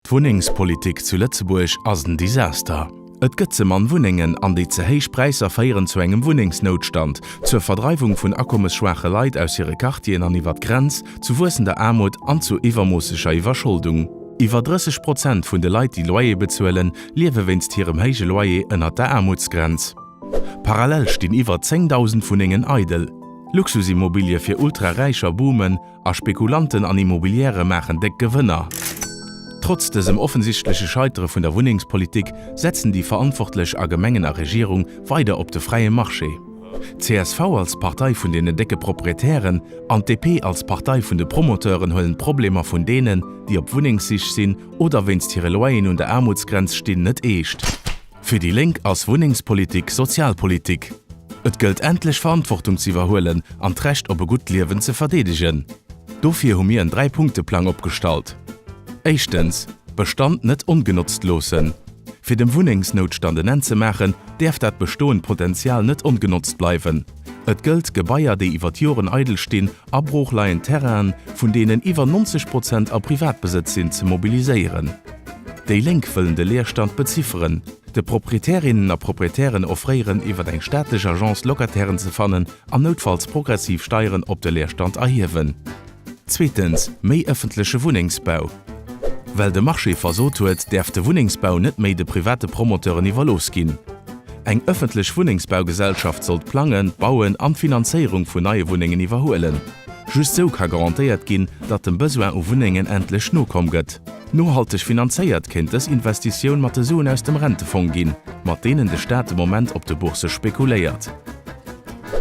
D'Wunnengspolitik zu Lëtzebuerg ass en Desaster. Et gëtt ze mann Wunnengen an déi ze héich Präisser féieren zu engem Wunnengsnoutstand, zur Verdreiwung vun akommesschwaache Leit aus hire Quartieren an iwwer d'Grenz, zu wuessender Aarmut an zu iwwermoosseger Iwwerscholdung. Iwwer 30 Prozent vun de Leit, déi Loyer bezuelen, liewe wéinst hirem héije Loyer ënnert der Aarmutsgrenz. Parallel stinn iwwer 10.000 Wunnengen eidel. Luxusimmobilië fir Ultraräicher boomen. a Spekulanten an Immobiliere maachen déck Gewënner. Trotz dësem offensichtleche Scheitere vun der Wunnengspolitik setzen déi Verantwortlech a Gemengen a Regierung weider op de fräie Marché. Csv als Partei vun deene décke Proprietären an d'DP als Partei vun de Promoteuren huelen d'Problemer vun deenen, déi op Wunnengssich sinn oder wéinst hire Loyeren un der Aarmutsgrenz stinn, net eescht. Fir déi Lénk ass Wunnengspolitik Sozialpolitik. Et gëllt endlech Verantwortung ze iwwerhuelen an d'Recht op e gutt Liewen ze verdeedegen. Dofir hu mir en Dräipunkteplang opgestallt. Éischtens, Bestand net ongenotzt loossen. Fir dem Wunnengsnoutstand en Enn ze maachen, däerf dat bestoend Potenzial net ongenotzt bleiwen. Et gëllt, Gebaier, déi iwwer d'Joren eidel stinn, a broochleiend Terrainen, vun deenen iwwer 90 Prozent a Privatbesëtz sinn, ze mobiliséieren. Déi Lénk wëllen de Leerstand bezifferen, de Proprietärinnen a Proprietären offréieren, iwwer eng staatlech Agence Locatairen ze fannen an noutfalls progressiv Steieren op de Leerstand erhiewen. Zweetens, méi ëffentleche Wunnengsbau. Well de Marché versot huet, däerf de Wunnengsbau net méi de private Promoteuren iwwerlooss ginn. Eng ëffentlech Wunnengsbaugesellschaft soll d'Plangen, d'Bauen an d'Finanzéierung vun neie Wunnengen iwwerhuelen. Just sou ka garantéiert ginn, datt dem Besoin u Wunnengen endlech nokomm gëtt. Nohalteg finanzéiert kéint dës Investitioun mat de Suen aus dem Rentefong ginn, mat deenen de Staat de Moment op de Bourse spekuléiert.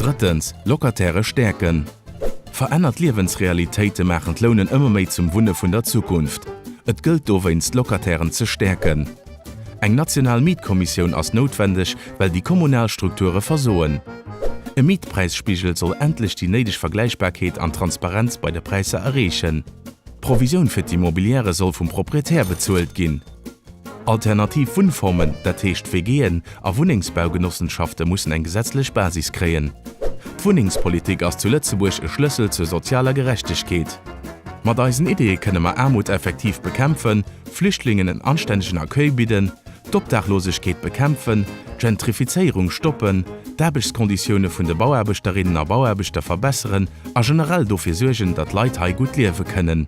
Drëttens, Locatairë stäerken. Verännert Liewensrealitéite maachen d'Lounen ëmmer méi zum Wunne vun der Zukunft. Et gëllt dowéinst d'Locatairen ze stäerken. Eng national Mietkommissioun ass noutwendeg, well déi kommunal Strukture versoen. E Mietpräisspigel soll endlech déi néideg Vergläichbarkeet an Transparenz bei de Präisser erreechen. D'Provisioun fir d'Immobiliere soll vum Proprietär bezuelt ginn. Alternativ Wunnformen, dat heescht WGen a Wunnengsbaugenossenschaft'e mussen eng gesetzlech Basis kréien. D'Wunnengspolitik ass zu Lëtzebuerg e Schlëssel zur sozialer Gerechtegkeet. Mat eisen Ideeë kënne mer Aarmut effektiv bekämpfen, Flüchtlingen en anstännegen Accueil bidden, d'Obdaachlosegkeet bekämpfen, d'Gentrifizéierung stoppen, d'Aarbechtskonditioune vun de Bauaarbechterinnen a Bauaarbechter verbesseren a generell dofir suergen, datt Leit hei gutt liewe kënnen.